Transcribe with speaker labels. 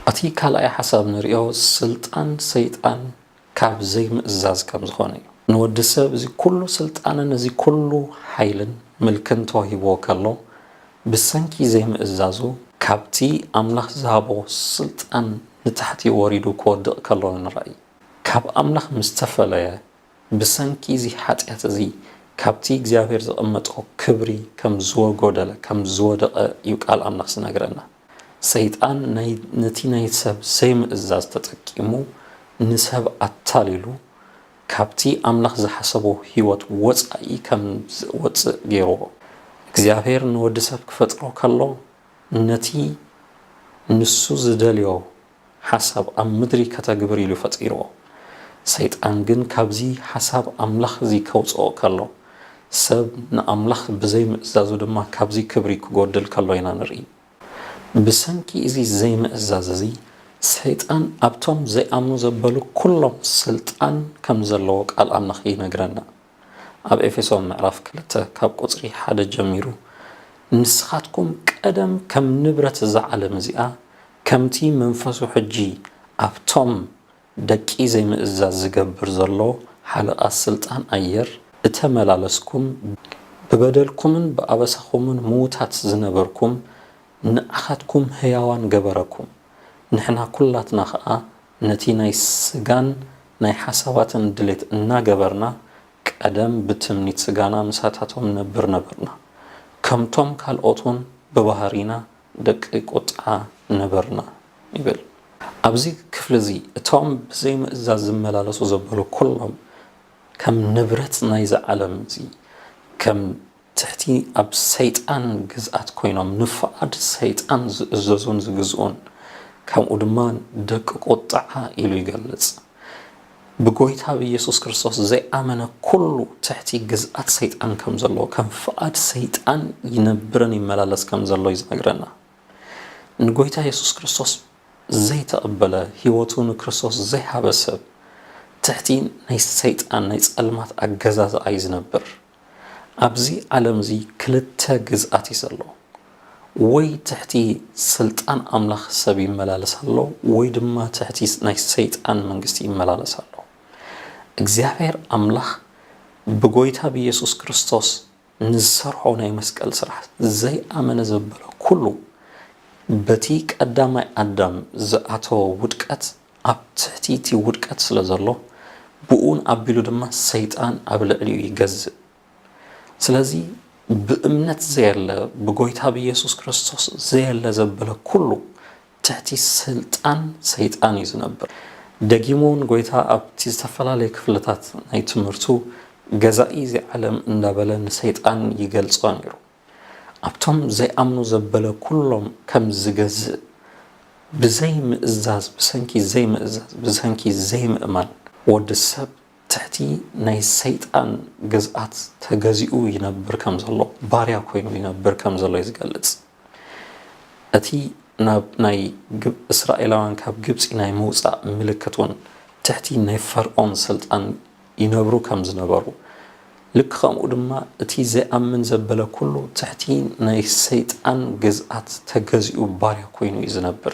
Speaker 1: እቲ ካልኣይ ሓሳብ ንሪኦ ስልጣን ሰይጣን ካብ ዘይምእዛዝ ከም ዝኾነ እዩ ንወዲ ሰብ እዚ ኩሉ ስልጣንን እዚ ኩሉ ሓይልን ምልክን ተዋሂብዎ ከሎ ብሰንኪ ዘይምእዛዙ ካብቲ ኣምላኽ ዝሃቦ ስልጣን ንታሕቲ ወሪዱ ክወድቕ ከሎ ንራእይ ካብ ኣምላኽ ምስ ተፈለየ፣ ብሰንኪ እዚ ሓጢኣት እዚ ካብቲ እግዚኣብሄር ዘቐመጦ ክብሪ ከም ዝወጎደለ፣ ከም ዝወደቐ እዩ ቃል ኣምላኽ ዝነግረና። ሰይጣን ናይ ነቲ ናይ ሰብ ዘይምእዛዝ ተጠቂሙ ንሰብ ኣታሊሉ ካብቲ ኣምላኽ ዝሓሰቦ ህይወት ወጻኢ ከም ዝወጽእ ገይርዎ። እግዚኣብሄር ንወዲ ሰብ ክፈጥሮ ከሎ ነቲ ንሱ ዝደልዮ ሓሳብ ኣብ ምድሪ ከተግብር ኢሉ ፈጢርዎ። ሰይጣን ግን ካብዚ ሓሳብ ኣምላኽ እዚ ከውጽኦ ከሎ፣ ሰብ ንኣምላኽ ብዘይ ምእዛዙ ድማ ካብዚ ክብሪ ክጎድል ከሎ ኢና ንርኢ። ብሰንኪ እዚ ዘይምእዛዝ እዚ ሰይጣን ኣብቶም ዘይኣምኑ ዘበሉ ኩሎም ስልጣን ከም ዘለዎ ቃል ኣምላኽ ይነግረና። ኣብ ኤፌሶን ምዕራፍ ክልተ ካብ ቁጽሪ ሓደ ጀሚሩ ንስኻትኩም ቀደም ከም ንብረት እዛ ዓለም እዚኣ ከምቲ መንፈሱ ሕጂ ኣብቶም ደቂ ዘይምእዛዝ ዝገብር ዘሎ ሓለቓ ስልጣን ኣየር እተመላለስኩም ብበደልኩምን ብኣበሳኹምን ምዉታት ዝነበርኩም ንዓኻትኩም ህያዋን ገበረኩም ንሕና ኩላትና ኸኣ ነቲ ናይ ስጋን ናይ ሓሳባትን ድሌት እናገበርና ቀደም ብትምኒት ስጋና ምሳታቶም ንነብር ነበርና። ከምቶም ካልኦት እውን ብባህሪና ደቂ ቁጥዓ ነበርና ይብል። ኣብዚ ክፍሊ እዚ እቶም ብዘይምእዛዝ ዝመላለሱ ዘበሉ ኩሎም ከም ንብረት ናይዚ ዓለም እዚ ከም ትሕቲ ኣብ ሰይጣን ግዝኣት ኮይኖም ንፍቓድ ሰይጣን ዝእዘዙን ዝግዝኡን ከምኡ ድማ ደቂ ቁጥዓ ኢሉ ይገልጽ። ብጎይታ ብኢየሱስ ክርስቶስ ዘይኣመነ ኩሉ ትሕቲ ግዝኣት ሰይጣን ከም ዘሎ ከም ፍቓድ ሰይጣን ይነብርን ይመላለስ ከም ዘሎ እዩ ዝነግረና። ንጎይታ ኢየሱስ ክርስቶስ ዘይተቐበለ ህይወቱ ንክርስቶስ ዘይሃበ ሰብ ትሕቲ ናይ ሰይጣን ናይ ጸልማት ኣገዛዝኣ እዩ ዝነብር። ኣብዚ ዓለምዚ ክልተ ግዝኣት እዩ ዘሎ። ወይ ትሕቲ ስልጣን ኣምላኽ ሰብ ይመላለስ ኣሎ፣ ወይ ድማ ትሕቲ ናይ ሰይጣን መንግስቲ ይመላለስ ኣሎ። እግዚኣብሔር ኣምላኽ ብጎይታ ብኢየሱስ ክርስቶስ ንዝሰርሖ ናይ መስቀል ስራሕ ዘይኣመነ ዘበለ ኩሉ በቲ ቀዳማይ ኣዳም ዝኣተወ ውድቀት ኣብ ትሕቲ እቲ ውድቀት ስለ ዘሎ፣ ብኡን ኣቢሉ ድማ ሰይጣን ኣብ ልዕሊኡ ይገዝእ። ስለዚ ብእምነት ዘየለ፣ ብጎይታ ብየሱስ ክርስቶስ ዘየለ ዘበለ ኩሉ፣ ትሕቲ ስልጣን ሰይጣን እዩ ዝነብር። ደጊሙ እውን ጎይታ ኣብቲ ዝተፈላለየ ክፍልታት ናይ ትምህርቱ፣ ገዛኢ እዚ ዓለም እንዳበለ ንሰይጣን ይገልጾ ነይሩ። ኣብቶም ዘይኣምኑ ዘበለ ኩሎም ከም ዚገዝእ፣ ብዘይ ምእዛዝ፣ ብሰንኪ ዘይምእዛዝ፣ ብሰንኪ ዘይምእማን፣ ወዲ ሰብ ትሕቲ ናይ ሰይጣን ግዝኣት ተገዚኡ ይነብር ከም ዘሎ፣ ባርያ ኮይኑ ይነብር ከም ዘሎ'ዩ ዝገልጽ። እቲ ናብ ናይ እስራኤላውያን ካብ ግብጺ ናይ ምውጻእ ምልክት'ውን ትሕቲ ናይ ፈርኦን ስልጣን ይነብሩ ከም ዝነበሩ፣ ልክ ከምኡ ድማ እቲ ዘይኣምን ዘበለ ኩሉ ትሕቲ ናይ ሰይጣን ግዝኣት ተገዚኡ ባርያ ኮይኑ እዩ ዝነብር።